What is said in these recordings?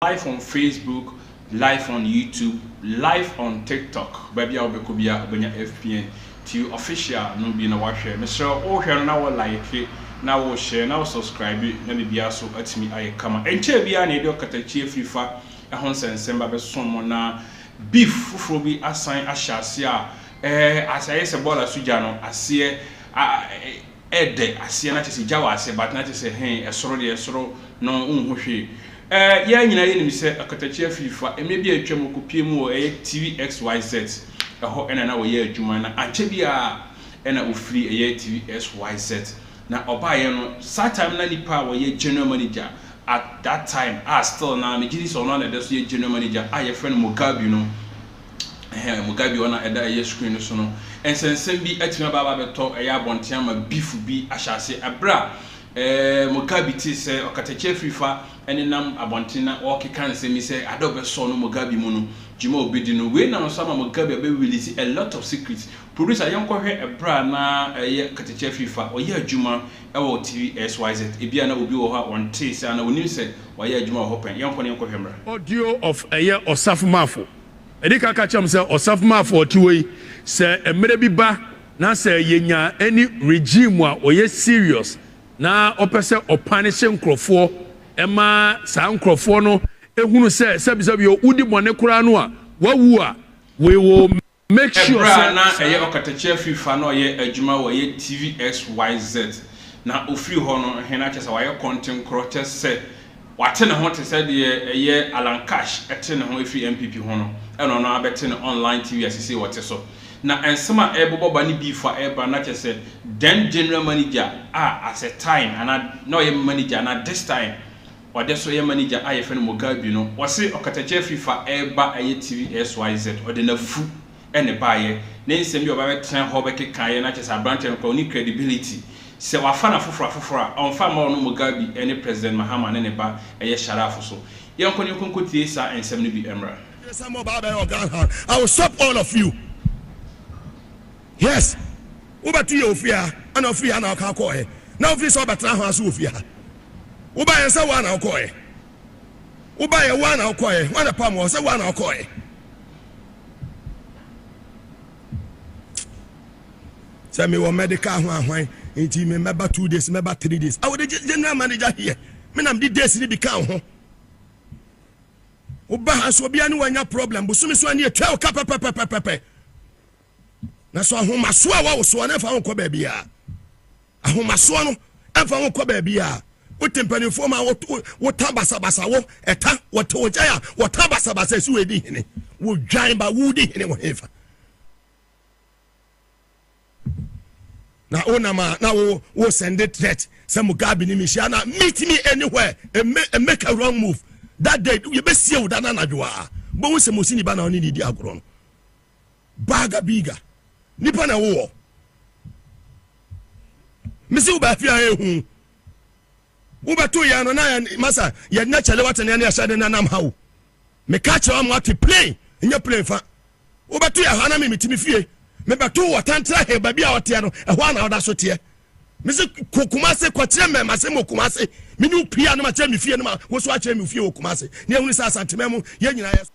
Live on Facebook, live on YouTube, live on TikTok, baabi a wobɛkɔ biara wobɛnya FPN TV official no bi na woahwɛ. Mesrɛ wo, wohwɛ no na wo like, na wo share, na wo subscribe na biribiara so atumi ayɛ kama. Ɛnkyɛɛ biara na yɛde ɔkatakyie afirifa ho nsɛnsɛmba bɛsom mo na beef foforɔ bi asan ahyɛ aseɛ a, ɛɛ, ayɛ sɛ bɔɔla so gya no aseɛ a. Ɛdɛ aseɛ na kyesɛ gya wɔ aseɛ but na kyesɛ hee ɛsoro deɛ ɛsoro no wonhu hwee ɛɛ yɛɛ nyinaa yɛnim sɛ ɔkatakyi afiri fa mmɛ bi a atwam ɔkɔpie mu wɔ ɛyɛ TV XYZ ɛhɔ ɛna na ɔyɛ adwuma na ankyɛ biaa ɛna ɔfiri ɛyɛ TV XYZ na ɔbaeɛ no saa time no na nipa a wɔyɛ general manager at that time a still na megyedi sɛ ɔno ara na ɛdɛ so yɛ general manager a yɛfrɛ no Mugabe no Ɛhɛn, Mugabe a ɔna ɛda ɛyɛ screen no so no nsɛnsɛm bi atumi aba aba abɛtɔ ɛyɛ abɔnten ama beef bi ahyɛ ase. Ɛberɛ a ɛɛ Mugabe tee sɛ ɔkatakyie afirifa ɛnenam abɔnten na ɔɔkeka nsɛm yi sɛ ade a ɔbɛsɔ no Mugabe mu no, dwuma a ɔbɛdi no, wei nam so ama Mugabe abɛ release a lot of secrets. Producer yɛnkɔhwɛ ɛberɛ a na ɛyɛ katakyie afirifa ɔyɛ adwuma wɔ TV XYZ, ebia na obi wɔ hɔ a ɔntee sɛ anaa ɔnnim sɛ wayɛ adwuma wɔ hɔ pɛn. Yɛnkɔ na yɛnkɔhwɛ mmra. Audio of Ɛyɛ Ɔsafomafo Ɛde ka ka kyerɛ me sɛ Ɔsafomafo a ɔte hɔ yi, sɛ mmerɛ bi ba na sɛ yɛnya ɛne regime a ɔyɛ serious na ɔpɛ sɛ ɔpanish nkorɔfoɔ ma saa nkorɔfoɔ no hunu sɛ sɛbisɛbi o wodi bɔne koraa no a wawu a, we will Bere a na ɛyɛ ɔkatakyie afirifa na ɔyɛ adwuma wɔ yɛ TVXYZ na ɔfiri hɔ no he na kyerɛ sɛ wayɛ kɔntenkorɔ kyɛ sɛ wate ne ho te sɛ deɛ ɛyɛ Alan Cash te ne ho firi NPP ho no na ɔno ara bɛte ne online TV a sesei ɔte so na nsɛm a ɛrebobɔ ba ne beef a ɛreba na kyerɛ sɛ then general manager a at a time anaa na ɔyɛ manager na this time Ɔde so yɛ manager a yɛfrɛ no Mugabi no, ɔse ɔkatakyia Fifa reba yɛ TV xyz, ɔde n'afu na ɛbaeɛ. Ne nsɛm bi a ɔba bɛtena hɔ bɛkekaeɛ no akyerɛ sɛ aberanteɛ no koraa ɔnni credibility. Sɛ wafa no afoforɔ afoforɔ a, ɔmfa mma ɔno Mugabi ne President Mahama ne ne ba yɛ Sharaf so. Yɛnkɔ na yɛnkɔ nkɔtie saa nsɛm no bi mmra. Sɛ mo ba bɛyɛ ɔga ha I will stop all of you yes wobɛto yɛ ofie ha ɛna ofiri ha na ɔka kɔɔɛ na ofiri sɛ ɔbɛtena ha nso ofie ha Wobaeɛ sɛ wo ara na wokɔeɛ. Wobaeɛ wo ara na wokɔeɛ. Hwan na ɛpamoo wo sɛ wo ara na wokɔeɛ? Sɛ mewɔ medical ho ahwan nti me mɛba two days mɛba three days. I would general manager here. Me na mede days no bi ka wo ho. Woba ha nso obiara ne wanya problem. Bosome so ani atwa wo ka pɛpɛpɛpɛpɛ. Na so ahomasoɔ a wɔwo soɔ no mfa ho kɔ baabi a ahomasoɔ no mfa ho kɔ baabi a wote mpanimfoɔ ma wota basabasa wo ɛta wɔte wo gya a wɔta basabasa ɛsi wɔ ɛdi hene wodwan ba wodi hene wɔ hefa na wonam a na wo wo sɛnde threat sɛ mugabe ne mehyia na meet me anywhere and make, and make a wrong move that day yɛbɛsie wo da no anadwo a bɛhu sɛ mosini ba na ɔne ne di agorɔ no Baga biga nipa na wowɔ mesi wo baafi a ehu wobɛto yɛn no na masa yɛn na kyɛlɛ wate ne yɛhyɛ de nanam ha o meka kyerɛ wɔn ate plane nyɛ plane fa wobɛto yɛn ha na memetumi fie mebɛto wɔ tantra he baabi a ɔteɛ no ɛhɔ a na ɔda so teɛ mese kɔ kumase kɔkyerɛ mmɛma se mɔ kumase mene wo pii a no makyerɛ me fie no ma wo so akyerɛ me fie wɔ kumase ne ahunu sɛ asantemɛ mu yɛ nyinaa yɛ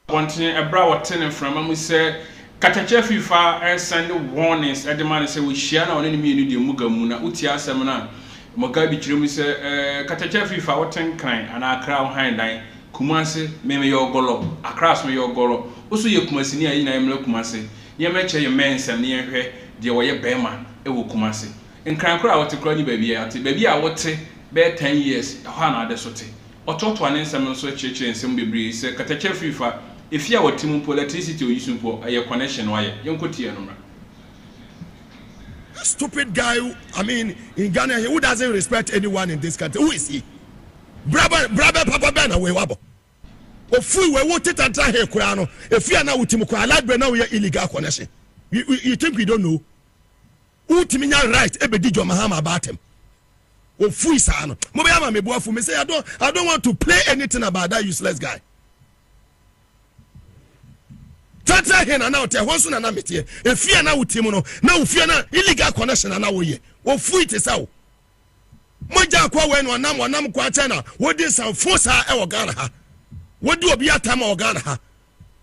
Wɔntene ɛberɛ a wɔte no mframa mu sɛ katakyɛ fifa and sɛnde warnings de ma no sɛ wɔhyia no a wɔne no mmienu deɛ muga mu na wotie asɛm no a Mugabe kyerɛ mu sɛ eh katakyɛ fifa wote nkran anaa akra wo han dan Kumasi me meyɛ ɔgɔlɔ akra so meyɛ ɔgɔlɔ wo so yɛ kumasini a yɛn nyinaa yɛmmra Kumasi na yɛmma ɛkyɛ yɛn mmɛn nsɛm na yɛnhwɛ deɛ wɔyɛ bɛɛma wɔ Kumasi nkran koraa a wote koraa nni baabiara te baabi a wote bɛyɛ ten years ɛhɔ a na ade so te. Ɔtoatoa ne nsɛm no nso kyerɛkyerɛ nsɛm bebree sɛ katakyɛ firi fa, efi a wɔte mu mpo, electricity oyi so mpo, ɛyɛ connection no ayɛ. Yɛnkɔ tiaa no mmra. This stupid guy who I mean in Ghana here who doesn't respect anyone in this country who is he? Bra bɛn bra bɛn papa bɛn na wei wabɔ? Ofui wei wo teta ntra he koraa no efi a na wo ti mu koraa light bill na wo yɛ illegal connection you you think we don't know? Wotumi nya right ebedi John Mahama aba atɛm. Ofui saa no. Mo bɛyɛ ama me boafo. Me say I don't I don't want to play anything about that useless guy. Tatra he na na ɔte ɛhɔ nso na na meteɛ. Efie a na wote mu no na ofie na illegal connection na na woyɛ. Ofui te sɛ wo. Mogya akɔ wɔ ɛna ɔnam ɔnam kɔ akyɛ na wodi nsɛmfo saa ɛwɔ Ghana ha. Wodi obi atɛm wɔ Ghana ha.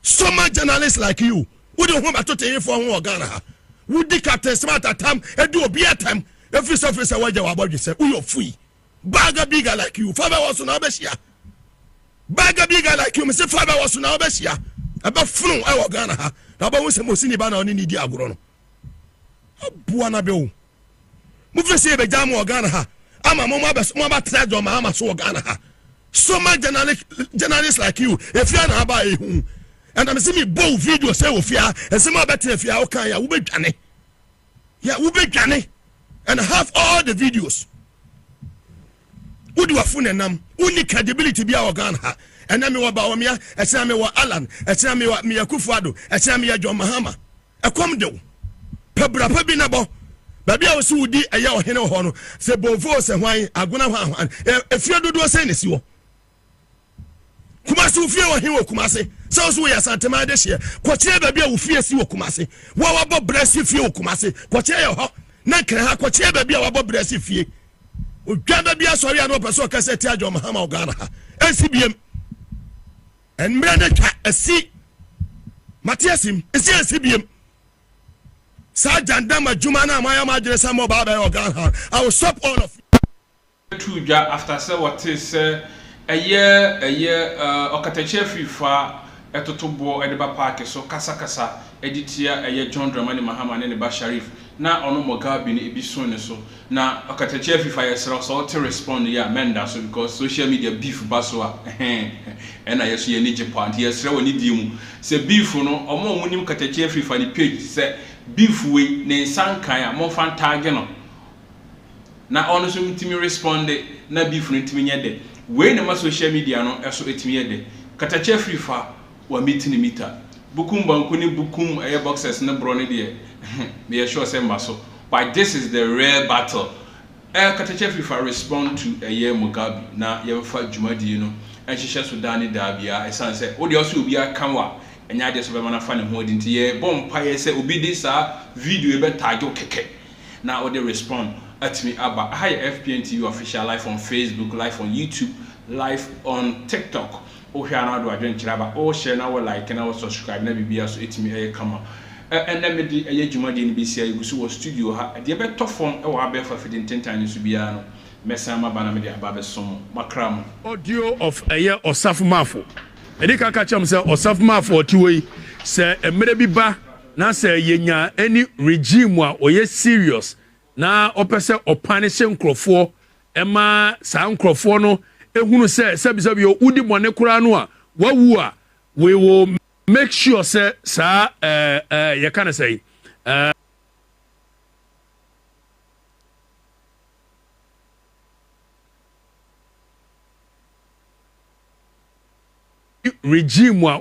so much journalist like you wode wo ho bɛto teyefoɔ ho wɔ ghana ha wodi captain smart atam ɛdi obi atam ɛfiri sɛ firi sɛ woagya wabɔdwe sɛ woyɛ fui baga biga like you fa bɛwɔ so na wobɛhyia baga biga like you mese fa bɛwɔ so na wobɛhyia ɛbɛfono ɛwɔ ghana ha na wobɛhu sɛ mosini ba na ɔne ne di agorɔ no aboa no bɛwo Mofiri sɛ yɛbɛgyaa mo wɔ Ghana ha ama mo moabɛtena John Mahama so wɔ Ghana ha. So ma journalist like you ɛfie a na aba ɛhu. Ɛna mese mebɔ wo video sɛ wɔ fie a ɛsɛm a bɛtena fie a woka yɛ a wobɛdwane. Yɛ wobɛdwane and have all the videos. Wodi wafo ne nam. Wonni credibility bi a wɔ Ghana ha. Ɛna mewɔ Bawumia, ɛsena mewɔ Alan, ɛsena mewɔ meyɛ Kufuado, ɛsena meyɛ John Mahama. Ɛkɔm de wo, pɛ bra pa bi na bɔ. Baabi a wɔsi wodi ɛyɛ ɔhene wɔ hɔ no, sɛ bonfoo sɛ hwan, agona hwan hwan, efie dodoɔ sɛn na esi hɔ? Kumase ofie wɔ he wɔ Kumase? Sɛ wo so woyɛ Asanteman de hyeɛ, kɔkyerɛ baabi a wo fie si wɔ Kumase. Wo a wabɔ bra si fie wɔ Kumase, kɔkyerɛ yɛ hɔ. Na nkran ha, kɔkyerɛ baabi a wabɔ bra si fie. Odwan baabi asɔre a na ɔpɛ sɛ ɔka sɛ ti adwom hama wɔ Ghana ha. Ɛnsi biem. Mmrɛ no twa asi. Mate asim. Nsi ansi biem. Saa gyandam adwuma no a moayɛ mo adwene sɛ mobaa bɛyɔ Ghana no, I will stop all of you. too dwa after sɛ wɔtee sɛ ɛyɛ ɛyɛ eh, ɔkatakyie afiri fa ɛtoto boɔ ɛde ba paake so kasa kasa ɛde tia ɛyɛ John Dramani Mahama ne ne ba Sharif na ɔno Mogabeni ebi so ne so Na ɔkatakyie afifa yɛsrɛ wo sɛ wote respond yi a mɛnda so because social media beef ba so a ɛhee ɛna yɛ so yɛ ani gye paa nti yɛsrɛ wo anidie mu sɛ beef no ɔmo a ɔmo nim katakyie afifa ne page sɛ beef wei ne nsa nkae a monfa ntaage no na ɔno nso ntumi responde na beef no ntumi nyɛ dɛ wei na ɛma social media no ɛso ɛtumi yɛ dɛ katakyie afifa Wa me ti ne me ta. Bukum banku ne bukum ɛyɛ boxers ne borɔ no deɛ me yɛ sure sɛ mma so but this is the rare battle ɛɛ Katakya fifa respond to ɛyɛ Mugabe na yɛnfa dwumadie no nhyehyɛ so daa ne daa biara ɛsan sɛ wo deɛ ɔsɛ obiara ka wa ɛnyɛ adeɛ sɛ ɔbɛma no afa ne ho adi nti yɛ bɔ mpaeɛ sɛ obi de saa video yi bɛ tag wo kɛkɛ na wo de respond atumi aba aha yɛ FPN TV official live on Facebook live on YouTube live on TikTok. Wo hwɛ a na ɔde wadwenkyerɛ aba wo share na wo like na wo subscribe na biribiara so ɛtumi ɛyɛ kama ɛ ɛnɛ me de ɛyɛ dwumadie no bɛsi a yɛgu so wɔ studio ha deɛ ɛbɛtɔ fam wɔ abɛɛfo afidie ntentan no so biara no mɛsan maba na me de aba abɛsom mo makra mo. Audio of Ɛyɛ Ɔsafo Mafo Ɛdi kan ka kyerɛ mo sɛ Ɔsafo Mafo a ɔte hɔ yi, sɛ mmerɛ bi ba na sɛ yɛnya ɛne regime a ɔyɛ serious na ɔpɛ sɛ ɔpanish nkorɔfoɔ Ɛma saa nkurɔfoɔ no hunu sɛ sɛbisɛbi o, wodi bɔne koraa no a, wawu a, we will make sure sɛ saa ɛɛ ɛɛ yɛka no sɛn ɛɛ. regime a.